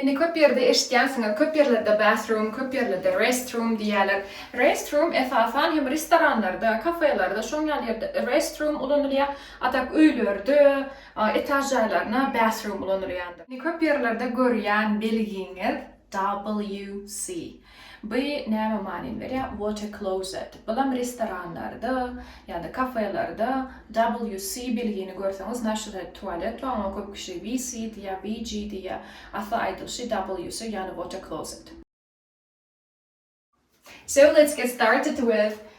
Indi köp ýerde eşitýänsiňiz, köp ýerlerde bathroom, köp ýerlerde restroom diýýärler. Restroom esasan hem restoranlarda, kafelerde, şoň ýaly ýerde restroom ulanylýar, a tak öýlerde, etaž jaýlarynda bathroom ulanylýandyr. Köp ýerlerde görýän belgiňiz WC. By näme manyny berýär water closet? Bulam restoranlarda ýada kafelerde WC bilgini görseňiz naşirde tualet bar oňa köp kişi WC diýýär WG diýýär asly aýdylyşy WC ýagny water closet. So let's get started with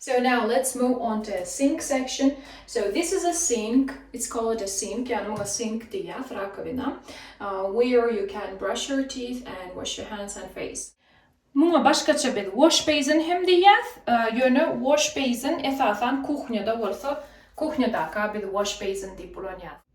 So now let's move on to sink section so this is a sink it's called a sink ýagny muňa sink diýýäs rakowina where you can brush your teeth and wash your hands and face. Muňa başgaça biz wash basin hem diýýäs ýöne wash basin esasan kuhnýada bolsa kuhnýadaka biz wash basin diýip ulanýas.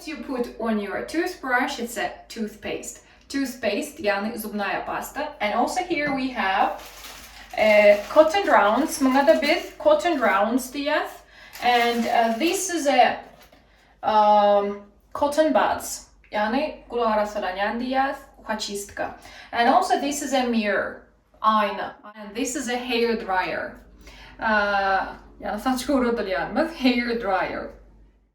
What you put on your toothbrush it said toothpaste toothpaste ýagny zubnaýa pasta and also here we have cotton rounds muňada biz cotton rounds diýýäs and this is a cotton buds ýagny gulak arassalanýan diýýäs uhaçistka and also this is a mirror aýna and this is a hair dryer ýagny saç guradylýanymyz hair dryer.